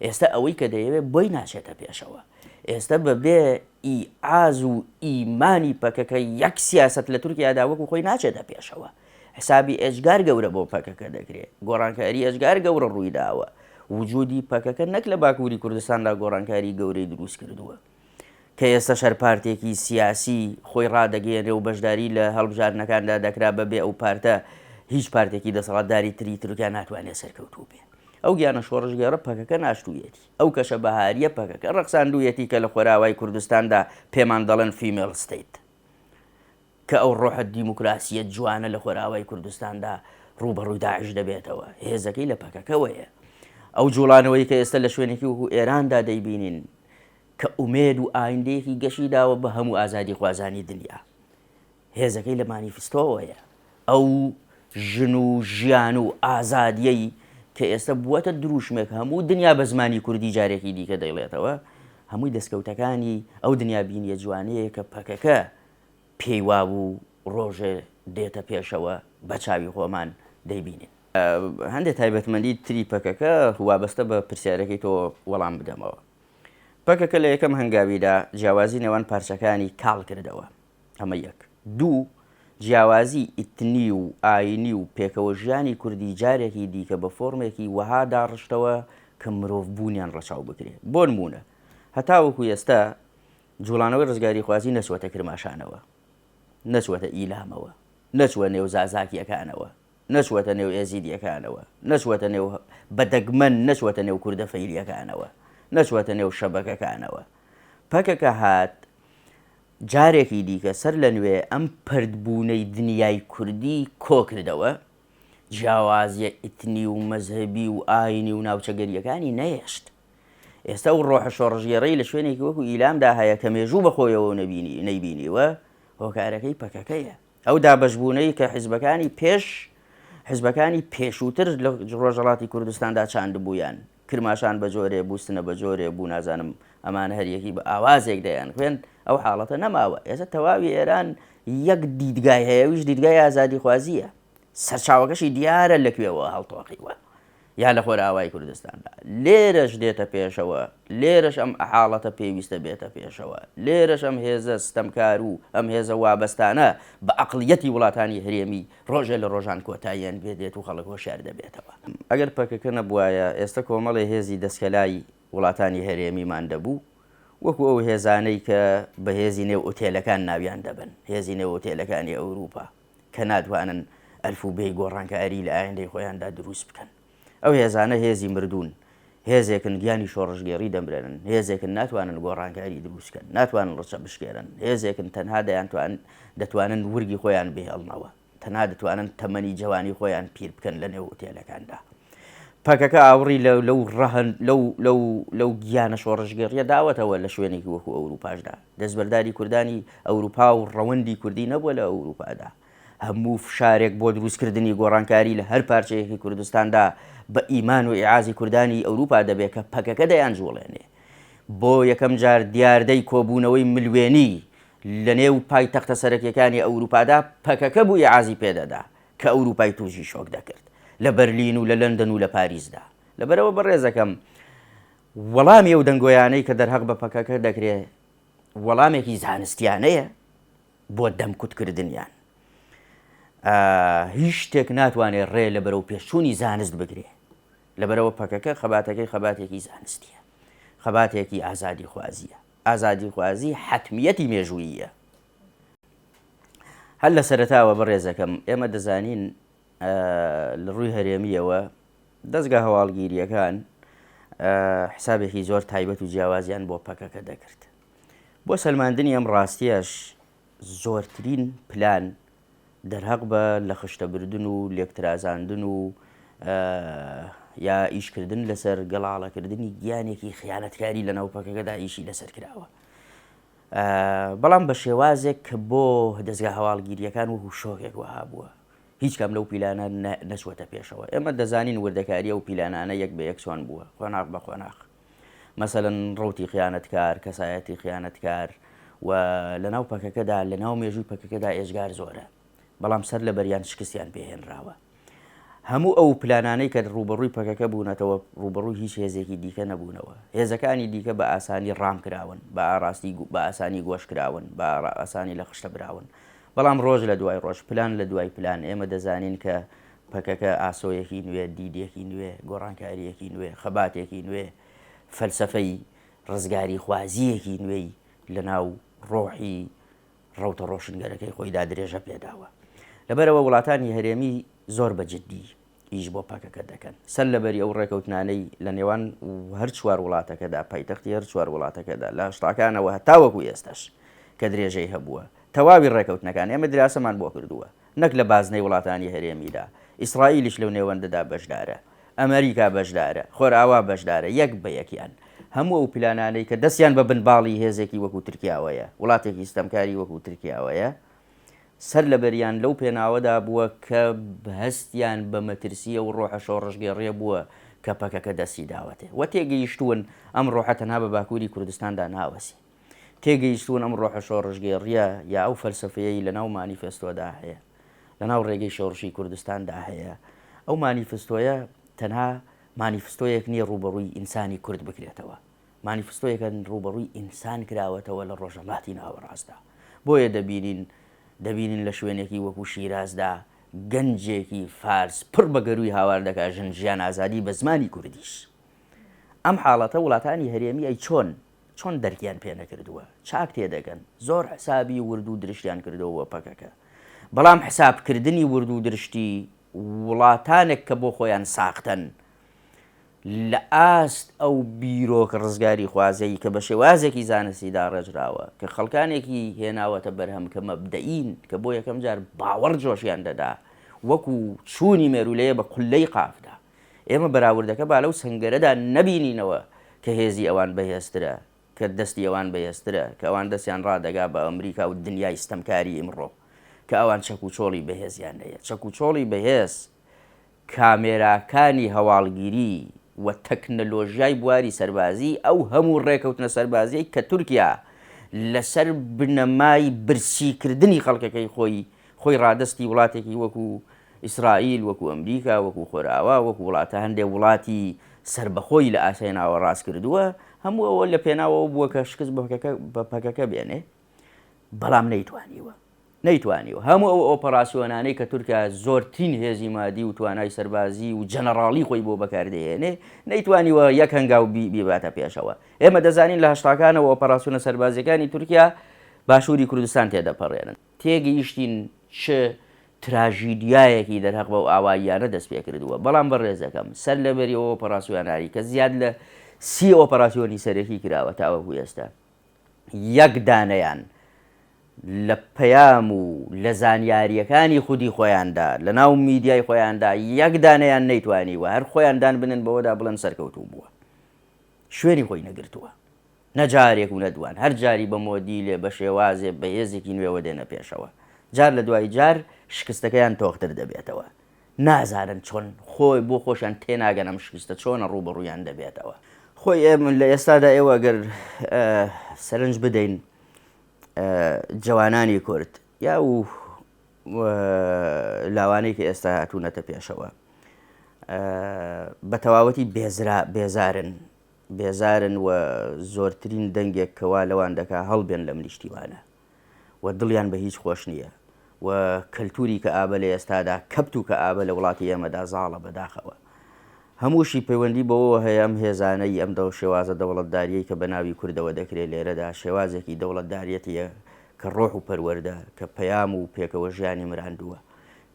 ئێستا ئەوەی کە دەیەوێ بۆی ناچێتە پێشەوە ئێستا بە بێ ئی ئاز و ئیمانی پەکەکە یەک سیاست لە تورکیادا وەکو خۆی ناچێتە پێشەوە حسابی ئێجگار گەورە بۆ پەکەکە دەکرێ. گۆڕانکاری ئێجگار گەوڕە ڕوویداوە. وجودی پەکەکە نەک لە باکووری کوردستاندا گۆڕانکاری گەورەی درووست کردووە. کە ئێستەش هەر پارتێکی سیاسی خۆی ڕادەگەیەنرێ و بەشداری لە هەڵبژاردنەکاندا دەکرا بە بێ ئەو پارتە هیچ پارتێکی دەسەڵاتداری تری تورکیا ناتوانێ سەرکەوتوو بێ. ئەو گیانە شۆڕشگێڕە پەکەکە ناشتوویەتی. ئەو کەشە بەهاریە پەکەکە ڕەخساندوویەتی کە لە خۆراوای کوردستاندا پێمان دەڵێن فیمێڵ ستەیت. کە ئەو ڕۆحە دیموکراسییە جوانە لە خۆراوای کوردستاندا ڕووبەڕووی داعش دەبێتەوە، هێزەکەی لە پەکەکەوەیە. ئەو جووڵانەوەی کە ئێستا لە شوێنێکی وەکوو ئێراندا دەیبینین کە ئومێد و ئایندەیەکی گەشی داوە بە هەموو ئازادیخوازانی دنیا، هێزەکەی لە مانیفستۆوەیە. ئەو ژن و ژیان و ئازادییەی کە ئێستا بووەتە درووشمێک هەموو دنیا بە زمانی کوردی جارێکی دیکە دەیڵێتەوە، هەمووی دەستکەوتەکانی ئەو دنیابینییە جوانەیە کە پەکەکە پێی وابوو ڕۆژێ دێتە پێشەوە بەچاوی خۆمان دەیبینین. هەندێ تایبەتمەندی تری پەکەکە وابەستە بە پرسیارەکەی تۆ وەڵام بدەمەوە. پەکەکە لە یەکەم هەنگاویدا جیاوازی نێوان پارچەکانی کاڵ کردەوە. ئەمە یەک. دوو، جیاوازی ئیتنی و ئایینی و پێکەوە ژیانی کوردی جارێکی دیکە بە فۆرمێکی وەها داڕشتەوە کە مرۆڤ بوونیان ڕەچاو بکرێ. بۆنموونە هەتاوەکو ئێستا جوڵانەوەی ڕزگاریخوازی نەچووەتە کرماشانەوە، نەچووەتە ئیلامەوە، نەچووە نێو زازاکییەکانەوە، نەچووەتە نێو ئێزیدییەکانەوە، نەچووەتە نێو بە دەگمەن نەچووەتە نێو کوردە فەیلییەکانەوە، نەچووەتە نێو شەبەکەکانەوە. پەکەکە هات جارێکی دیکە سەر لە نوێ ئەم پردبوونەی دنیای کوردی کۆ کردەوە، جیاوازییە ئیتنی و مەزهەبی و ئایینی و ناوچەگەرییەکانی نەهێشت. ئێستا ئەو ڕۆحە شۆڕشگێڕەی لە شوێنێکی وەکو ئیلامدا هەیە کە مێژوو بە خۆیەوە نەبینی نەیبینیوە، هۆکارەکەی پەکەکەیە. ئەو دابەشبوونەی کە حزبەکانی پێش حزبەکانی پێشووتر لە ڕۆژهەڵاتی کوردستاندا چاندبوویان، کرماشان بە جۆرێ بوو، سنە بە جۆرێ بوو، نازانم ئەمانە هەر یەکی بە ئاوازێک دەیانخوێند، ئەو حاڵەتە نەماوە. ئێستا تەواوی ئێران یەک دیدگای هەیە، ئەویش دیدگای ئازادیخوازییە. سەرچاوەکەشی دیارە لە کوێوە هەڵتۆقیوە. یا لە خۆرئاوای کوردستاندا. لێرەش دێتە پێشەوە، لێرەش ئەم حاڵەتە پێویستە بێتە پێشەوە، لێرەش ئەم هێزە ستەمکار و ئەم هێزە وابەستانە بە عەقڵیەتی وڵاتانی هەرێمی، ڕۆژێ لە ڕۆژان کۆتاییان پێ دێت و خەڵک هۆشیار دەبێتەوە. ئەگەر پەکەکە نەبوایە، ئێستە کۆمەڵێ هێزی دەسکەلای وڵاتانی هەرێمیمان دەبوو، وەکو ئەو هێزانەی کە بە هێزی نێو ئوتێلەکان ناویان دەبەن، هێزی نێو ئوتێلەکانی ئەوروپا. کە ناتوانن ئەلفوبێی گۆڕانکاری لە ئایندەی خۆیاندا دروست بکەن. ئەو هێزانە هێزی مردوون، هێزێکن گیانی شۆڕشگێڕی دەمرێنن، هێزێکن ناتوانن گۆڕانکاری دروست بکەن، ناتوانن ڕچە بشکێنن، هێزێکن تەنها دەتوانن ورگی خۆیان بهێڵنەوە، تەنها دەتوانن تەمەنی جەوانی خۆیان پیر بکەن لەنێو ئوتێلەکاندا. پەکەکە ئاوڕی لەو گیانە شۆڕشگێڕیە داوەتەوە لە شوێنێکی وەکو ئەوروپاشدا، دەستبەرداری کوردانی ئەوروپا و ڕەوەندی کوردی نەبووە لە ئەوروپادا، هەموو فشارێک بۆ دروستکردنی گۆڕانکاری لە هەر پارچەیەکی کوردستاندا بە ئیمان و ئیعازی کوردانی ئەوروپا دەبێت کە پەکەکە دەیانجوڵێنێ. بۆ یەکەم جار دیاردەی کۆبوونەوەی ملوێنی لە نێو پایتەختە سەرەکیەکانی ئەوروپادا پەکەکە بوو ئیعازی پێدەدا. کە ئەوروپای تووشی شۆک دەکرد لە بەرلین و لە لەندەن و لە پاریسدا. لەبەرئەوە بەڕێزەکەم وەڵامی ئەو دەنگۆیانەی کە دەرهەق بە پەکەکە دەکرێت وەڵامێکی زانستیانەیە بۆ دەمکوتکردنیان. هیچ شتێک ناتوانێت ڕێ لە بەرەوپێشچوونی زانست بگرێت. لەبەرەوە پەکەکە خەباتەکەی خەباتێکی زانستییە. خەباتێکی ئازادیخوازییە. ئازادیخوازی حەتمییەتی مێژووییە. هەر لە سەرەتاوە بەڕێزەکەم ئێمە دەزانین لە ڕووی هەرێمیەوە دەستگا هەواڵگیریەکان حسابێکی زۆر تایبەت و جیاوازیان بۆ پەکەکە دەکرد بۆ سەلماندنی ئەم ڕاستیەش زۆرترین پلان دەرهەق بە لە خشتەبردن و لێکترازاندن و یا ئیشکردن لەسەر گەڵاڵەکردنی گیانێکی خیانەتکاری لە ناوپەکەکەدا ئیشی لەسەر کراوە بەڵام بە شێوازێک کە بۆ دەزگا هەواڵگیرییەکان وەکو شۆکێک وەها بووە. هیچ کام لەو پیلانە نەچووەتە پێشەوە. ئێمە دەزانین وردەکاری ئەو پیلانانە یەک بە یەک چۆن بووە، قۆناغ بە قۆناغ. مەسەلەن ڕەوتی خیانەتکار، کەسایەتی خیانەتکار و لەناو پەکەکەدا، لەناو مێژووی پەکەکەدا ئێجگار زۆرە. بەڵام سەرلەبەریان شکستیان پێهێنراوە. هەموو ئەو پلانانەی کە ڕووبەڕووی پەکەکە بوونەتەوە، ڕووبەڕووی هیچ هێزێکی دیکە نەبوونەوە. هێزەکانی دیکە بە ئاسانی ڕام کراون، بە ئاراستی بە ئاسانی گۆش کراون، بە ئاسانی لە خشتە براون. بەڵام ڕۆژ لە دوای ڕۆژ، پلان لە دوای پلان، ئێمە دەزانین کە پەکەکە ئاسۆیەکی نوێ، دیدێکی نوێ، گۆڕانکارییەکی نوێ، خەباتێکی نوێ، فەلسەفەی ڕزگاریخوازییەکی نوێی لە ناو ڕۆحی، ڕەوتە ڕۆشنگەرەکەی خۆیدا درێژە پێداوە. لەبەرئەوە وڵاتانی هەرێمی زۆر بە جددی ئیش بۆ پەکەکە دەکەن. سەرلەبەری ئەو ڕێکەوتنانەی لە نێوان هەر چوار وڵاتەکەدا، پایتەختی هەر چوار وڵاتەکەدا، لە هەشتاکانەوە هەتاوەکو ئێستاش کە درێژەی هەبووە، تەواوی ڕێکەوتنەکان ئێمە دراسەمان بۆ کردووە. نەک لە بازنەی وڵاتانی هەرێمیدا، ئیسرائیلیش لەو نێوەندەدا بەشدارە، ئەمەریکا بەشدارە، خۆرئاوا بەشدارە، یەک بە یەکیان هەموو ئەو پلانانەی کە دەستیان بە بنباڵی هێزێکی وەکوو تورکیاوەیە، وڵاتێکی ستەمکاری وەکوو تورکیاوەیە، سەر لەبەریان لەو پێناوەدا بووە کە هەستیان بە مەترسییە و ڕۆحە شۆڕشگێڕییە بووە کە پەکەکە دەستی داوەتێ و تێگەیشتوون ئەم ڕۆحە تەنها بە باکووری کوردستاندا ناوەسێ. تێگەیستوون ئەم ڕۆحە شۆڕشگێڕییە یا ئەو فەلسەفەیەی لەناو مانیفێستۆدا هەیە، لەناو ڕێگەی شۆڕشی کوردستاندا هەیە، ئەو مانیفستۆیە تەنها مانیفستۆیەک نییە ڕووبەڕووی ئینسانی کورد بکرێتەوە، مانیفستۆیەکە ڕووبەڕووی ئینسان کراوەتەوە لە ڕۆژەڵاتی ناوەڕاستدا. بۆیە دەبینین دەبینین لە شوێنێکی وەکوو شیرازدا گەنجێکی فارس پڕ بە گەرووی هاوار دەکات ژن، ژیان، ئازادی بە زمانی کوردیش. ئەم حاڵەتە وڵاتانی هەرێمی ئەی چۆن؟ چۆن دەرکیان پێ نەکردووە چاک تێدەگەن زۆر حسابی ورد و درشتیان کردووە بۆ پەکەکە بەڵام حساب کردنی ورد و درشتی وڵاتانێک کە بۆ خۆیان ساختەن لە ئاست ئەو بیرۆکە ڕزگاری خوازەی کە بە شێوازێکی زانستی داڕێژراوە کە خەڵکانێکی هێناوەتە بەرهەم کە مەبدەئین کە بۆ یەکەم جار باوەڕ جۆشیان دەدا وەکو چوونی مێرولەیە بە قوللەی قافدا ئێمە بەراوردەکە با لەو سەنگەرەدا نەبینینەوە کە هێزی ئەوان بەهێزترە، کە دەستی ئەوان بەهێزترە، کە ئەوان دەستیان ڕادەگا بە ئەمریکا و دنیای ستەمکاری ئیمڕۆ، کە ئەوان چەک و چۆڵی بەهێزیان هەیە. چەک و چۆڵی بەهێز کامێراکانی هەواڵگیری و تەکنەلۆژیای بواری سەربازی ئەو هەموو ڕێکەوتنە سەربازیەی کە تورکیا لەسەر بنەمای برسیکردنی خەڵکەکەی خۆی خۆی ڕادەستی وڵاتێکی وەکو ئیسرائیل وەکو ئەمریکا وەکو خۆرئاوا وەکو وڵاتە هەندێ وڵاتی سەربەخۆی لە ئاسیای ناوەڕاست کردووە هەموو ئەوە لە پێناو ئەوە بووە کە شکست بە پەکەکە بێنێ بەڵام نەیتوانیوە نەیتوانیوە هەموو ئەو ئۆپەراسیۆنانەی کە تورکیا زۆرترین هێزی مادی و توانای سەربازی و جەنەڕاڵی خۆی بۆ بەکاردەهێنێ نەیتوانیوە یەک هەنگاو بیباتە پێشەوە ئێمە دەزانین لە هەشتاکانەوە ئۆپەراسیۆنە سەربازیەکانی تورکیا باشووری کوردستان تێدەپەڕێنن تێگەیشتین چ تراژیدیایەکی دەرهەق بەو ئاواییانە دەست پێ کردووە، بەڵام بەڕێزەکەم، سەر لەبەری ئەو ئۆپەراسیۆنانەی کە زیاد لە سی ئۆپەراسیۆنی سەرەکی کراوە تاوەکو ئێستا یەک دانەیان لە پەیام و لە زانیارییەکانی خودی خۆیاندا لە ناو میدیای خۆیاندا یەک دانەیان نەیتوانیوە هەر خۆیان دان بنێن بەوەدا بڵێن سەرکەوتوو بووە شوێنی خۆی نەگرتووە. نە جارێک و نە دووان، هەر جاری بە مۆدیلێ، بە شێوازێ، بە هێزێکی نوێوە دێنە پێشەوە. جار لە دوای جار شکستەکەیان تۆختر دەبێتەوە. نازانن چۆن، خۆ بۆ خۆشیان تێناگەن ئەم شکستە چۆنە ڕووبەڕوویان دەبێتەوە. خۆی ئێمە لە ئێستادا ئێوە گەر سەرنج بدەین جەوانانی کورد یا و لاوانەی کە ئێستا هاتوونەتە پێشەوە بە تەواوەتی بێزرا بێزارن بێزارن و زۆرترین دەنگێک کە وا لەوان دەکا هەڵبێن لەم نیشتیمانە و دڵیان بە هیچ خۆش نییە و کەلتوری کەئابە لە ئێستادا کەپت و کەئابە لە وڵاتی ئێمەدا زاڵە بەداخەوە هەمووشی پەیوەندی بەوەوە هەیە ئەم هێزانەی ئەم دەو شێوازە دەوڵەتداریەی کە بەناوی کوردەوە دەکرێ لێرەدا شێوازێکی دەوڵەتداریەتیە کە ڕۆح و پەروەردە کە پەیام و پێکەوە ژیانی مراندووە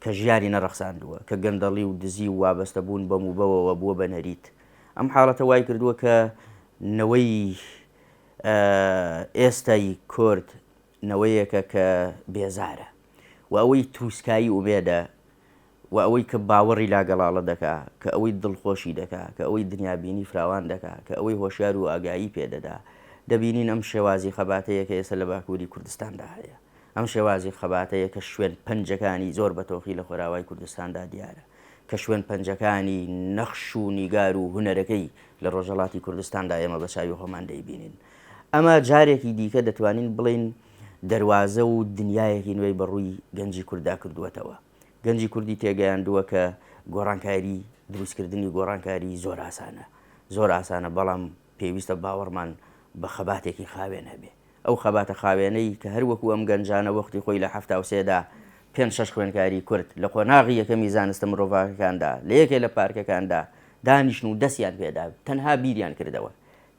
کە ژیانی نەڕەخساندووە کە گەندەڵی و دزی و وابەستەبوون بەم و بەوەوە بووە بە نەریت ئەم حاڵەتە وای کردووە کە نەوەی ئێستای کورد نەوەیەکە کە بێزارە و ئەوەی تروسکایی ئومێدە و ئەوەی کە باوەڕی لا گەڵاڵە دەکا کە ئەوەی دڵخۆشی دەکا کە ئەوەی دنیابینی فراوان دەکا کە ئەوەی هۆشیار و ئاگایی پێ دەدا دەبینین ئەم شێوازی خەباتەیە کە ئێستا لە باکووری کوردستاندا هەیە ئەم شێوازی خەباتەیە کە شوێن پەنجەکانی زۆر بە تۆخی لە خۆراوای کوردستاندا دیارە کە شوێن پەنجەکانی نەخش و نیگار و هونەرەکەی لە ڕۆژهەڵاتی کوردستاندا ئێمە بە چاوی خۆمان دەیبینین. ئەمە جارێکی دیکە دەتوانین بڵێین دەروازە و دنیایەکی نوێی بە ڕووی گەنجی کورددا کردووەتەوە. گەنجی کوردی تێگەیاندووە کە گۆڕانکاری، دروستکردنی گۆڕانکاری زۆر ئاسانە. زۆر ئاسانە بەڵام پێویستە باوەڕمان بە خەباتێکی خاوێن هەبێ. ئەو خەباتە خاوێنەی کە هەر وەکوو ئەم گەنجانە وەختی خۆی لە حەفتا و سێ دا پێنج شەش خوێندکاری کورد لە قۆناغی یەکەمی زانستە مرۆڤاکاندا لە یەکێ لە پارکەکاندا دانیشتن و دەستیان پێ دا تەنها بیریان کردەوە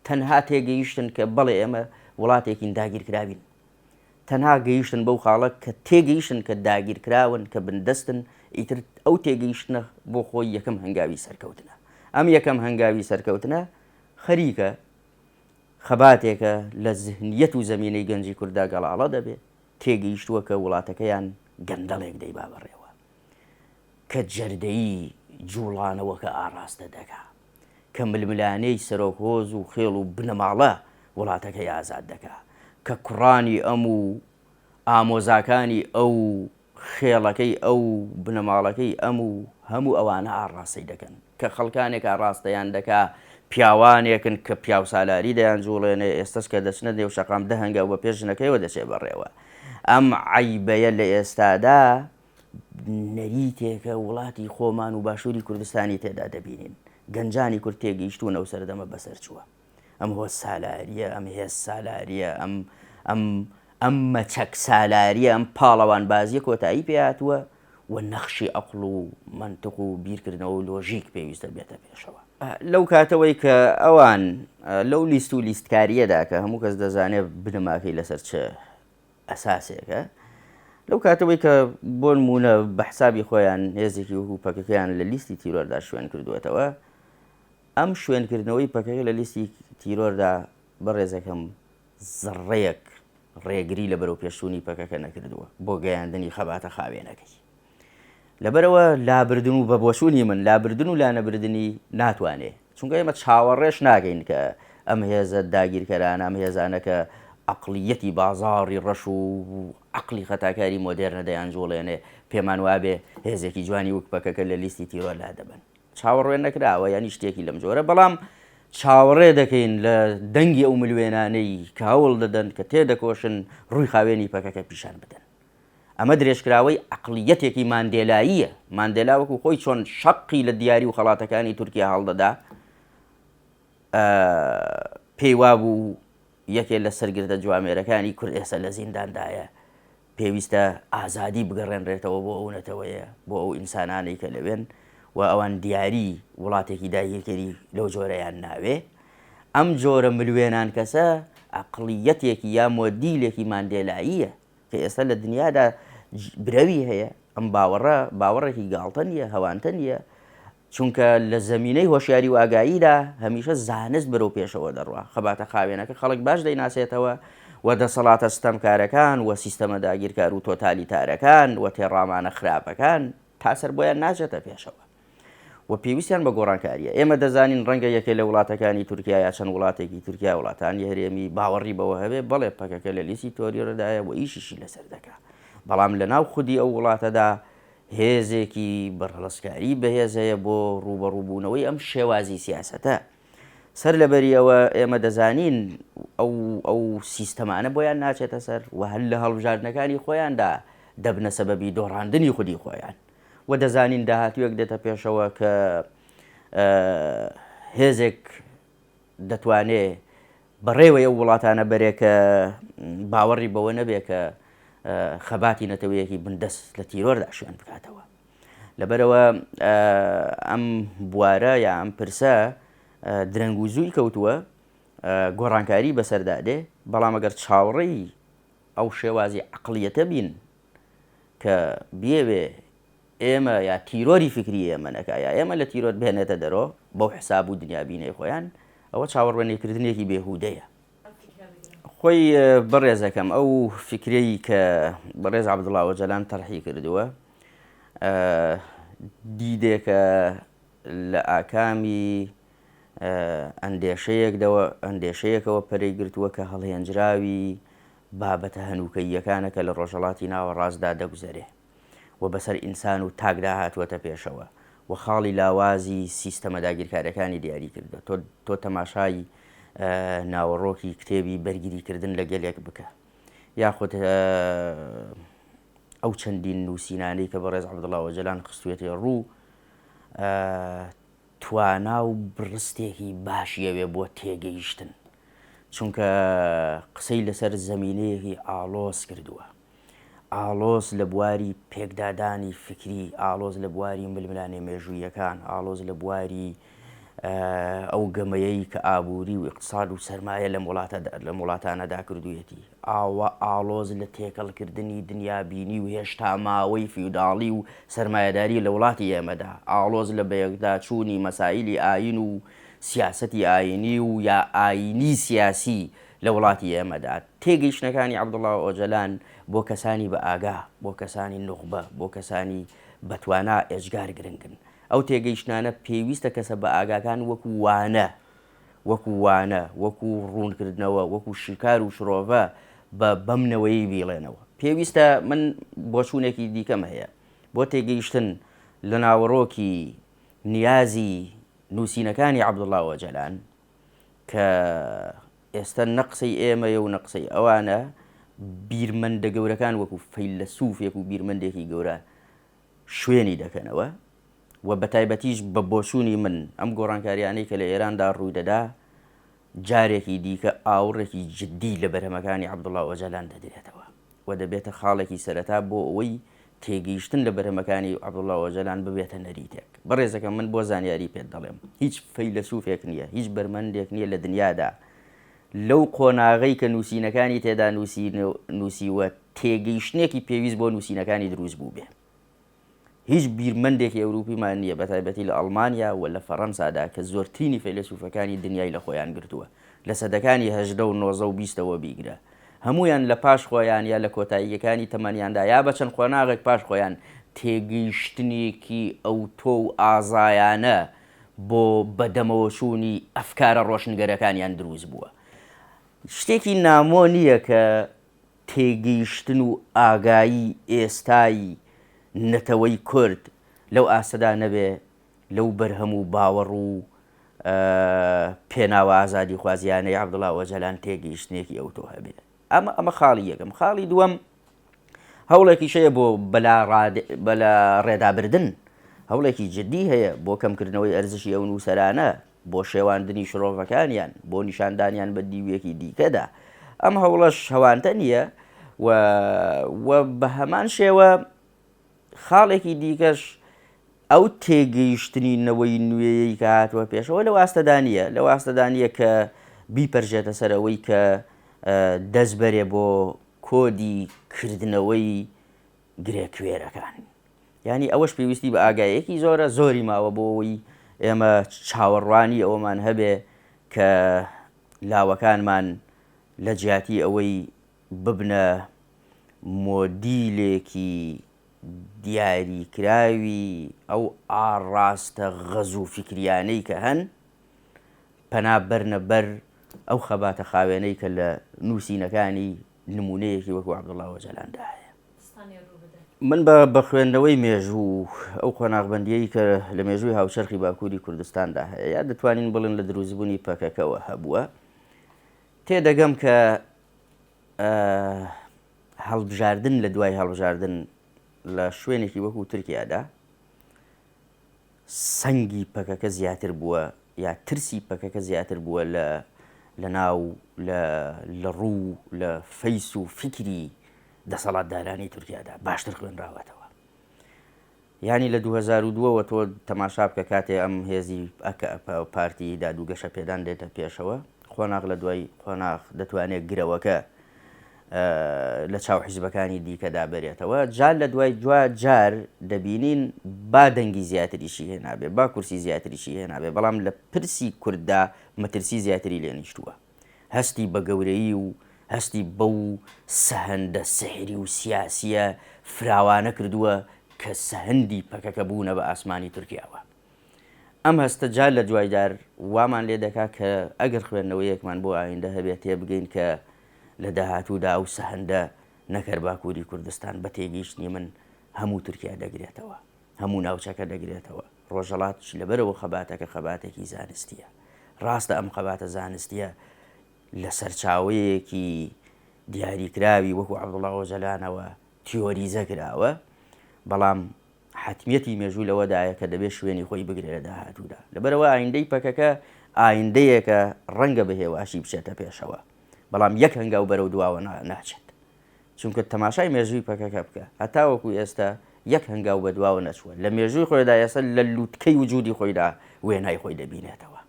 تەنها تێگەیشتن کە بەڵێ ئێمە وڵاتێکین داگیرکراوین تەنها گەیشتن بەو خاڵە کە تێگەیشتن کە داگیرکراون کە بندەستن ئیتر ئەو تێگەیشتنە بۆ خۆی یەکەم هەنگاوی سەرکەوتنە ئەم یەکەم هەنگاوی سەرکەوتنە خەریکە خەباتێکە لە زهنیەت و زەمینەی گەنجی کورددا گەڵاڵە دەبێت، تێگەیشتووە کە وڵاتەکەیان گەندەڵێک دەیبا بەڕێوە کە جەردەیی جووڵانەوەکە ئاڕاستە دەکا، کە ململانێی سەرۆک هۆز و خێڵ و بنەماڵە وڵاتەکەی ئازاد دەکا، کە کوڕانی ئەم و ئامۆزاکانی ئەو و خێڵەکەی ئەو و بنەماڵەکەی ئەم و هەموو ئەوانە ئاڕاستەی دەکەن، کە خەڵکانێک ئاڕاستەیان دەکا، پیاوانێکن کە پیاوسالاری دەیانجووڵێنێ، ئێستەش کە دەچنە نێو شەقام دە هەنگاو بە پێش ژنەکەیەوە دەچێ بەڕێوە. ئەم عەیبەیە لە ئێستادا نەریتێکە وڵاتی خۆمان و باشووری کوردستانی تێدا دەبینین. گەنجانی کورد تێگەیشتوون ئەو سەردەمە بەسەر چووە. ئەم هۆ سالاریە ئەم هێ سالاریە ئەم ئەم ئەم مەچەک سالاریە ئەم پاڵەوان بازیە کۆتایی پێاتوە و نەخشی ئەقل و منتق و بیرکردنەوە لۆژیک پێویستە بێتە پێشەوە لەو کاتەوەی کە ئەوان لەو لیست و لیستکاریەدا کە هەموو کەس دەزانێت بنەماکەی لەسەر چ ئەساسێکە لەو کاتەوەی کە بۆن مونە بە حسابی خۆیان هێزێکی وەکو پەکەکەیان لە لیستی تیرۆردا شوێن کردوێتەوە ئەم شوێنکردنەوەی پەکەکە لە لیستی تیرۆردا بەڕێزەکەم زڕڕەیەک ڕێگری لە بەرەوپێشچوونی پەکەکە نەکردووە بۆ گەیاندنی خەباتە خاوێنەکەی. لەبەرەوە لابردن و بەبۆچوونی من لابردن و لانەبردنی ناتوانێ چونکە ئێمە چاوەڕێش ناکەین کە ئەم هێزە داگیرکەرانە ئەم هێزانە کە عقلیەتی بازاڕی ڕەش و عقلی خەتاکاری مۆدێرنە دەیان جوڵێنێ پێمان وابێ هێزێکی جوانی وک پەکەکە لە لیستی تیرۆر لادەبن چاوەڕێ نەکراوە یانی شتێکی لەم جۆرە بەڵام چاوەڕێ دەکەین لە دەنگی ئەو ملوێنانەی کە هەوڵ دەدەن کە تێدەکۆشن ڕووی خاوێنی پەکەکە پیشان بدەن ئەمە درێژکراوەی عقلیەتێکی ماندێلاییە ماندێلا وەکو خۆی چۆن شەقی لە دیاری و خەڵاتەکانی تورکیا هەڵدەدا پێی وابوو یەکێ لە سەرگرتە جوامێرەکانی کورد ئێستا لە زینداندایە پێویستە ئازادی بگەڕێنرێتەوە بۆ ئەو نەتەوەیە، بۆ ئەو ئینسانانەی کە لەوێن و ئەوان دیاری وڵاتێکی داگیرکەری لەو جۆرەیان ناوێ. ئەم جۆرە ملوێنانکەسە عەقڵییەتێکی یا مۆدیلێکی ماندێلاییە کە ئێستا لە دنیادا برەوی هەیە. ئەم باوەڕە باوەڕێکی گاڵتە نییە، هەوانتە نییە. چونکە لە زەمینەی هۆشیاری و ئاگاییدا هەمیشە زانست بەرەو پێشەوە دەڕوا، خەباتە خاوێنەکە خەڵک باش دەیناسێتەوە و دەسەڵاتە ستەمکارەکان و سیستەمە داگیرکار و تۆتالیتارەکان و تێڕامانە خراپەکان تا سەر بۆیان ناچێتە پێشەوە و پێویستیان بە گۆڕانکارییە. ئێمە دەزانین ڕەنگە یەکێ لە وڵاتەکانی تورکیا یا چەند وڵاتێکی تورکیا، وڵاتانی هەرێمی، باوەڕی بەوە هەبێ بەڵێ پەکەکە لە لیستی تۆریڕدایە و ئیشیشی لەسەر دەکا، بەڵام لەناو خودی ئەو وڵاتەدا هێزێکی بەرهەڵستکاری بەهێز هەیە بۆ ڕووبەڕووبوونەوەی ئەم شێوازی سیاسەتە. سەر لەبەری ئەوە ئێمە دەزانین ئەو ئەو سیستەمانە بۆیان ناچێتە سەر و هەر لە هەڵبژاردنەکانی خۆیاندا دەبنە سەبەبی دۆڕاندنی خودی خۆیان و دەزانین داهاتوویەک دێتە پێشەوە کە هێزێک دەتوانێ بەڕێوەی ئەو وڵاتانە بەرێ کە باوەڕی بەوە نەبێ کە خەباتی نەتەوەیەکی بندەست لە تیرۆردا شوێن بکاتەوە لەبەرەوە ئەم بوارە یا ئەم پرسە درەنگ و زووی کەوتووە گۆڕانکاری بەسەردا دێ بەڵام ئەگەر چاوەڕێی ئەو شێوازی عقلیەتە بین کە بێوێ ئێمە یا تیرۆری فیکری ئێمە نەکا یا ئێمە لە تیرۆر بهێنێتە دەرۆ بەو حساب و دنیابینەی خۆیان ئەوە چاوەڕوەنیکردنێکی بێهودەیە. خۆی بەڕێزەکەم ئەو فیکرەی کە بەڕێز عەبدوڵا ئۆجەلان تەرحی کردووە دیدێکە لە ئاکامی ئەندێشەیەکدەوە ئەندێشەیەکەوە پەرەی گرتووە کە هەڵهێنجراوی بابەتە هەنووکەییەکانە کە لە ڕۆژهەڵاتی ناوەڕاستدا دەگوزەرێ. و بەسەر ئینسان و تاکدا هاتووەتە پێشەوە و خاڵی لاوازی سیستەمە داگیرکارەکانی دیاری کردووە. تۆ تۆ تەماشای ناوەڕۆکی کتێبی بەرگریکردن لە گەلێک بکە یاخود ئەو چەندین نووسینانەی کە بەڕێز عەبدوڵڵا ئۆجەلان خستوێتی ڕوو توانا و بڕستێکی باشیەوێ بۆ تێگەیشتن چونکە قسەی لەسەر زەمینەیەکی ئاڵۆز کردووە. ئاڵۆز لە بواری پێکدادانی فیکری، ئاڵۆز لە بواری ململانێ مێژووییەکان، ئاڵۆز لە بواری ئەو گەمەیەی کە ئابووری و ئیقتساد و سەرمایە لەم وڵاتە لەم وڵاتانەدا کردوویەتی، ئاوا ئاڵۆز لە تێکەڵکردنی دنیابینی و هێشتا ماوەی فیوداڵی و سەرمایەداری لە وڵاتی ئێمەدا، ئاڵۆز لە بەیەکداچوونی مەسایلی ئایین و سیاسەتی ئایینی و یا ئایینی سیاسی لە وڵاتی ئێمەدا. تێگەیشتنەکانی عەبدوڵا ئۆجەلان بۆ کەسانی بە ئاگا، بۆ کەسانی نوخبە، بۆ کەسانی بەتوانا ئێجگار گرنگن. ئەو تێگەیشتنانە پێویستە کەسە بە ئاگاکان وەکو وانە، وەکو وانە، وەکو ڕوونکردنەوە، وەکو شیکار و شرۆڤە بە بەم نەوەیەی بیڵێنەوە. پێویستە، من بۆچوونێکی دیکەم هەیە، بۆ تێگەیشتن لە ناوەڕۆکی نیازی نووسینەکانی عەبدوڵا ئۆجەلان، کە ئێستا نە قسەی ئێمەیە و نە قسەی ئەوانە، بیرمەندە گەورەکان وەکو فەیلەسوفێک و بیرمەندێکی گەورە شوێنی دەکەنەوە و بەتایبەتیش بە بۆچوونی من ئەم گۆڕانکاریانەی کە لە ئێراندا ڕوویدەدا جارێکی دیکە ئاوڕێکی جدی لە بەرهەمەکانی عەبدوڵا ئۆجالان دەدرێتەوە و دەبێتە خاڵێکی سەرەتا بۆ ئەوەی تێگەیشتن لە بەرهەمەکانی عەبدوڵا ئۆجەلان ببێتە نەریتێک. بەڕێزەکەم من بۆ زانیاری پێت دەڵێم هیچ فەیلەسوفێک نییە، هیچ بەرمەندێک نییە لە دنیادا لەو قۆناغەی کە نووسینەکانی تێدا نووسیوە تێگەیشتنێکی پێویست بۆ نووسینەکانی درووست بووبێ. هیچ بیرمەندێکی ئەوروپیمان نییە بە تایبەتی لە ئەڵمانیا و لە فەڕەنسادا کە زۆرترینی فەیلەسوفەکانی دنیای لە خۆیان گرتووە لە سەدەکانی هەژدە و نۆزە و بیستەوە بیگرە هەموویان لە پاش خۆیان یا لە کۆتاییەکانی تەمەنیاندا یا بە چەند قۆناغێک پاش خۆیان تێگەیشتنێکی ئەوتۆ و ئازایانە بۆ بەدەمەوەچوونی ئەفکارە ڕۆشنگەرەکانیان دروست بووە. شتێکی نامۆ نییە کە تێگەیشتن و ئاگایی ئێستای نەتەوەی کورد لەو ئاستەدا نەبێ لەو بەرهەم و باوەڕ و پێناوە ئازادیخوازییانەی عەبدوڵا ئۆجالان تێگەیشتنێکی ئەوتۆ هەبێ. ئەمە ئەمە خاڵی یەکەم. خاڵی دووەم هەوڵێکیش هەیە بۆ بەلا ڕاد بەلا ڕێدابردن، هەوڵێکی جددی هەیە بۆ کەمکردنەوەی ئەرزشی ئەو نووسەرانە، بۆ شێواندنی شڕۆڤەکانیان، بۆ نیشاندانیان بە دیوێکی دیکەدا. ئەم هەوڵەش هەوانتە نییە و و بە هەمان شێوە خاڵێکی دیکەش ئەو تێگەیشتنی نەوەی نوێیەی کە هاتووە پێشەوە لە واستەدانە لە واستەدانە کە بیپەرژێتە سەرەوەی کە دەستبەرێ بۆ کۆدی کردنەوەی گرێکوێرەکان ینی ئەوەش پێویستی بە ئاگایەکی زۆرە زۆری ماوە بۆەوەی ئێمە چاوەڕوانی ئەوەمان هەبێ کە لاوەکانمان لە جیاتی ئەوەی ببنە مۆدیلێکی دیاریکراوی ئەو ئاڕاستە غەز و فیکرییانەی کە هەن، پەنا ببەرنە بەر ئەو خەباتە خاوێنەی کە لە نووسینەکانی نموونەیەکی وەکوو عەبدوڵڵا ئۆجالاندا هەیە. من بە خوێندنەوەی مێژوو و ئەو قۆناغبەندییەی کە لە مێژووی هاوچەرخی باکووری کوردستاندا هەیە، یا دەتوانین بڵێن لە دروستبوونی پەکەکەوە هەبووە، تێدەگەم کە هەڵبژاردن لە دوای هەڵبژاردن لە شوێنێکی وەکو تورکیادا سەنگی پەکەکە زیاتر بووە یا ترسی پەکەکە زیاتر بووە لە لە ناو لە ڕوو لە فەیس و فکری دەسەڵاتدارانی تورکیادا باشتر خوێنراوەتەوە یانی لە دوو هەزار و دوو وە تۆ تەماشا بکە کاتێ ئەم هێزی ئەکەپە و پارتی داد و گەشە پێدان دێتە پێشەوە قۆناغ لە دوای قۆناغ دەتوانێ گرەوەکە لە چاو حیزبەکانی دیکەدا بەرێتەوە جار لە دوای جوا جار دەبینین با دەنگی زیاتریشی هێنابێ با کورسی زیاتریشی هێنابێ بەڵام لە پرسی کورددا مەترسی زیاتری لێنیشتووە. هەستی بە گەورەیی و هەستی بەو سەهەندە سحری و سیاسییە فراوانە کردووە کە سەهەندی پەکەکە بوونە بە ئاسمانی تورکیاوە. ئەم هەستە جار لە دوای جار وامان لێ دەکا کە ئەگەر خوێندنەوەیەکمان بۆ ئایندە هەبێ تێبگەین کە لە داهاتوودا ئەو سەهەندە نەکەر باکووری کوردستان بە تێگەیشتنی من هەموو تورکیا دەگرێتەوە. هەموو ناوچەکە دەگرێتەوە، ڕۆژهەڵاتیش لەبەرئەوە خەباتەکە خەباتێکی زانستییە. ڕاستە ئەم خەباتە زانستییە لە سەرچاوەیەکی دیاریکراوی وەکو عەبدوڵا ئۆجەلانەوە تیۆریزە کراوە، بەڵام حەتمیەتی مێژوو لەوەدایە کە دەبێت شوێنی خۆی بگرێت لە داهاتوودا. لەبەرئەوە ئایندەی پەکەکە ئایندەیەکە ڕەنگە بەهێواشی بچێتە پێشەوە، بەڵام یەک هەنگاو بەرەو دواوە ناچێت. چونکە تەماشای مێژووی پەکەکە بکە، هەتاوەکو ئێستا یەک هەنگاو بەدواوە نەچووە، لە مێژووی خۆیدا ئێستا لە لوتکەی وجودی خۆیدا وێنای خۆی دەبینێتەوە.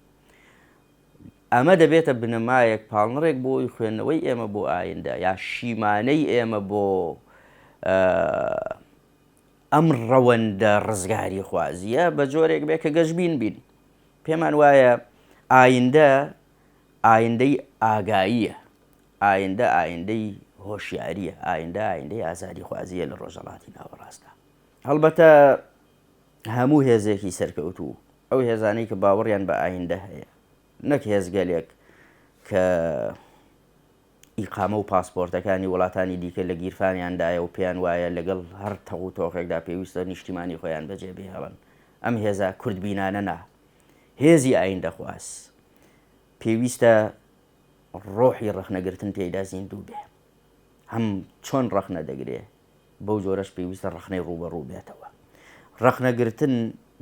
ئەمە دەبێتە بنەمایەک، پاڵنڕێک بۆ خوێندنەوەی ئێمە بۆ ئایندە، یا شیمانەی ئێمە بۆ ئەم ڕەوەندە ڕزگاریخوازییە، بە جۆرێک بێت کە گەشبین بین. پێمان وایە ئایندە، ئایندەی ئاگاییە. ئایندە ئایندەی هۆشیارییە، ئایندە ئایندەی ئازادیخوازییە لە ڕۆژهەڵاتی ناوەڕاستدا. هەڵبەتە هەموو هێزێکی سەرکەوتوو، ئەو هێزانەی کە باوەڕیان بە ئایندە هەیە، نەک هێزگەلێک کە ئیقامە و پاسپۆرتەکانی وڵاتانی دیکە لە گیرفانیاندایە و پێیان وایە لەگەڵ هەر تەغ و تۆغێکدا پێویستە نیشتیمانی خۆیان بەجێ بهێڵن. ئەم هێزە کوردبینانە نا. هێزی ئایندەخواز پێویستە ڕۆحی ڕەخنەگرتن تێیدا زیندوو بێ هەم چۆن ڕەخنە دەگرێ بەو جۆرەش پێویستە ڕەخنەی ڕووبەڕوو بێتەوە ڕەخنەگرتن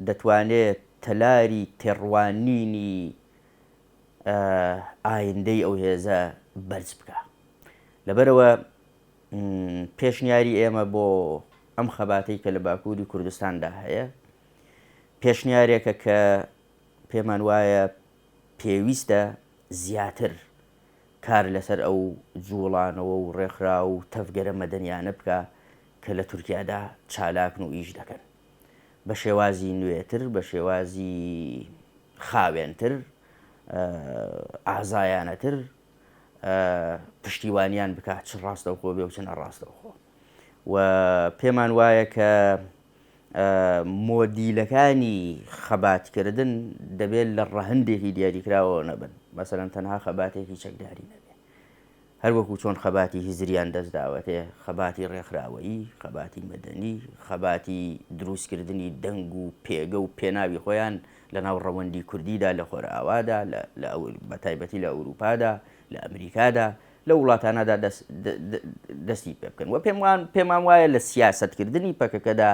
دەتوانێت تەلاری تێڕوانینی ئایندەی ئەو هێزە بەرز بکا لەبەرەوە پێشنیاری ئێمە بۆ ئەم خەباتەی کە لە باکووری کوردستاندا هەیە پێشنیارێکە کە پێمان وایە پێویستە زیاتر کار لەسەر ئەو جووڵانەوە و ڕێکخراو و تەڤگەرە مەدەنیانە بکا کە لە تورکیادا چالاکن و ئیش دەکەن بە شێوازی نوێتر، بە شێوازی خاوێنتر، ئازایانەتر پشتیوانیان بکا چ ڕاستەوخۆ بێ و چ ناڕاستەوخۆ و پێمان وایە کە. مۆدیلەکانی خەباتکردن دەبێت لە ڕەهەندێکی دیاریکراوەوە نەبن، مەسەلەن تەنها خەباتێکی چەکداری نەبێت، هەروەکو چۆن خەباتی هزریان دەستداوەتێ، خەباتی ڕێکخراوەیی، خەباتی مەدەنی، خەباتی دروستکردنی دەنگ و پێگە و پێناوی خۆیان لەناو ڕەوەندی کوردیدا لە خۆرئاوادا، بەتایبەتی لە ئەوروپادا، لە ئەمریکادا. لەو وڵاتانەدا دەستی پێ بکەن و پێمان وایە لە سیاسەتکردنی پەکەکەدا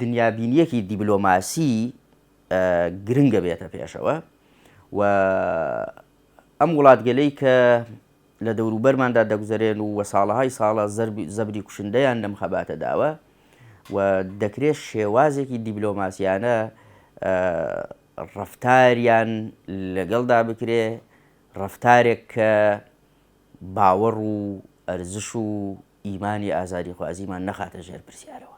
دنیابینیەکی دیبلۆماسی گرنگە بێتە پێشەوە و ئەم وڵاتگەلەی کە لە دەوروبەرماندا دەگوزارێن و وە ساڵەهای ساڵە زەبری کوشندەیان لەم خەباتە داوە و دەکرێت شێوازێکی دیبلۆماسیانە ڕفتاریان لەگەڵدا بکرێ ڕەفتارێک کە باوەڕ و ئەرزش و ئیمانی ئازادیخوازیمان نەخاتە ژێر پرسیارەوە.